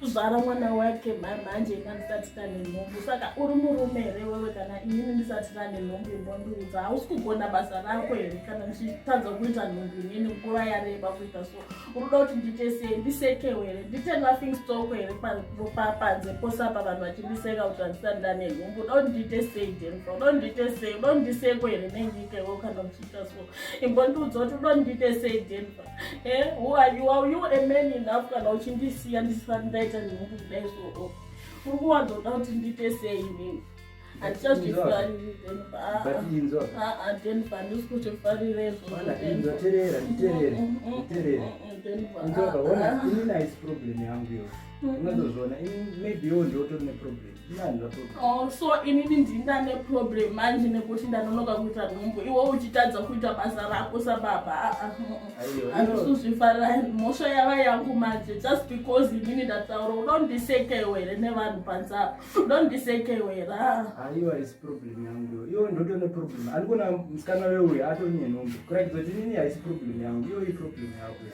kuzvara mwana wake mhanje ina ndisati tane nhumbu saka uri murume here wewe kana inini ndisati tane nhumbu inondiudza hausi kugona basa rako here kana ndichitadza kuita nhumbu inini nguva yareba kuita so unoda kuti ndiite sei ndisekewo here ndiite laughing stock here panze pose apa vanhu vachindiseka kuti handisati ndane nhumbu unoda kuti ndiite sei denfa unoda kuti ndiite sei unoda kuti ndisekwe here nenyika iwo kana uchiita so imbondiudza kuti unoda kuti ndiite sei denfa Eh, who are you? Are you a man enough kana uchindisiya ndisati ndaita nemunhu kudai so oh. uri kuwanzoda kuti ndiite sei inini handichazvifarirezvoaona ini nice problem yangu yo unazozviona ini maybe yo ndiotori neproblem Oh, so inini ndinda neproblem manje nekuti ndanonoka kuita nhumbu iwo uchitadza kuita basa rako sababa ah, ah, mm, mm. andisuzvifarira mhosva yava yangu manje just because inini ndataura udondisekewo here nevanhu panzaa udondisekewo here ah. aiwa isi problem yangu iyo ndoto neproblem andikona musikana weuyo atori nenhumbu kurakidza kuti inini haisi problem yangu iyo iproblem yako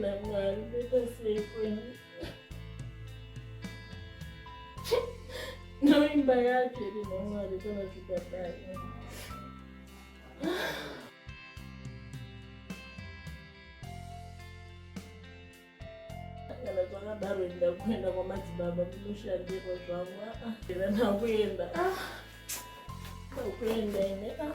namwari ndoita sei kwenu noimba yake iri namwari kana zvikadai kana zvakadaro enda kuenda kwamadzibaba munoshandirwa zvangu aa nakuenda ah ukuenda ine ah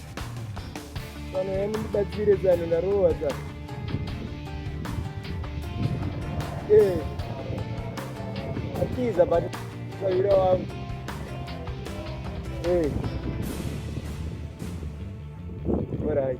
Vanhu vemu ndibatsire zano ndarowa zano. Eh. Atiza but kawira wangu. Eh. Alright.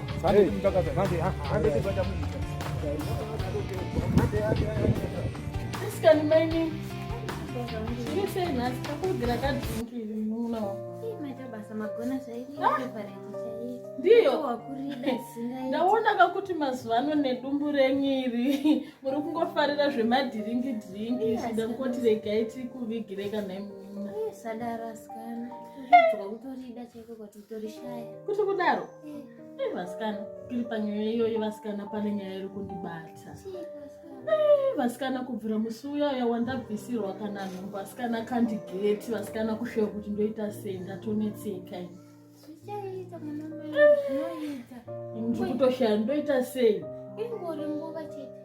Asikani maini. Chiri sei nhasi takugira kadrinki iri muno. Maita basa magona zvairi favorite chaiyo. Ndiyo. Wakurida singai. Ndaona kakuti mazuva ano nedumbu renyiri muri kungofarira zvemadhiringi dhiringi zvida kuti regai tiri kuvigire kana imuna. Sadara asikana. Kutorida chaiko kwati kuti kudaro eh, vasikana tiri panyaya iyoyo vasikana pane nyaya iri kundibata eh, vasikana kubvira musi uya uya wandabvisirwa kana nhumbu vasikana kandigeti vasikana kushewa kuti ndoita sei ndatonetseka ini ndiri kutoshaya ndoita sei ingori nguva chete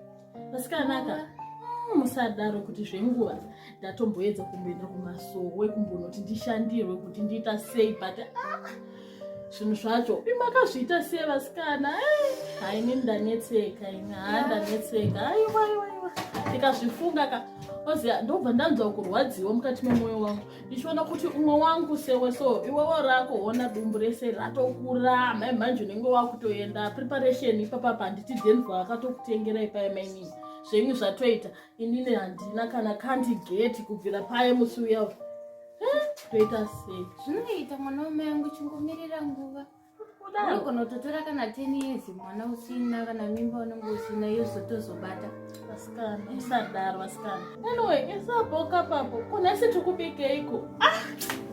vasikanaka hmm, musadaro kuti zvenguva ndatomboedza kumboenda kumasowe kumbonoti ndishandirwe kuti ndiita sei but ah, zvinhu zvacho imakazviita sei vasikana eh, haini ndanetseka ini haa ndanetseka aiwaiwaiwa ndikazvifunga ka oziva ndobva ndanzwa kurwadziwa mukati memwoyo wangu ndichiona kuti umwe wangu sewe so iwewo rako hona dumbu rese ratokura mai manje unenge wakutoenda preparation ipapa panditi denva akatokutengera ipai mainini zvenyu zvatoita inini handina kana kandi geti kubvira paye musi uya toita sei zvinoita mwana wamai angu chingomirira nguva unototora kana 10 years mwana usina kana mimba unenge usina yozotozobata vasikana usadaro vasikana anyway isaboka papo kuna si tikubikeiko ah!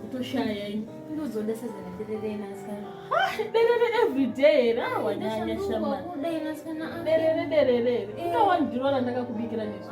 utoshaya ini ndozoda sezana derere inasikana ah, derere everyday here awanyanya ah, shamana derere derere ikawandirora ndakakubikira nezvo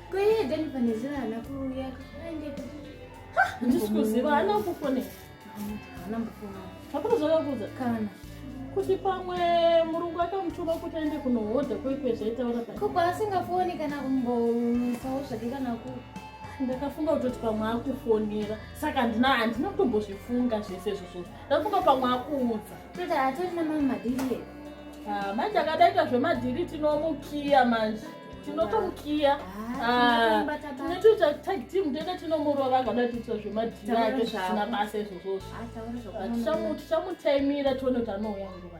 Kwee then pane zera hana kuuya kaende handisi kuziva hana kufone hana mbofona hapana zvakakuudza kana kuti pamwe murungu akamutuma kuti aende kunohodha kwekwe zvaitaura pa koko asingafoni kana kumbomisawo zvake kana ku ndakafunga kutoti pamwe akufonera saka handina handina kutombozvifunga zvese zvozvozvo ndafunga pamwe akuudza toti hatori namamwe madhiri ah, manje akadaita zvemadhiri tinomukiya manje tinotomukiya ah, netoita tag team ndenge tinomurova angada tiitwa zvemadhiri ake zvisina basa izvozvozvo ah, tichamutaimira tione kuti anouya nguva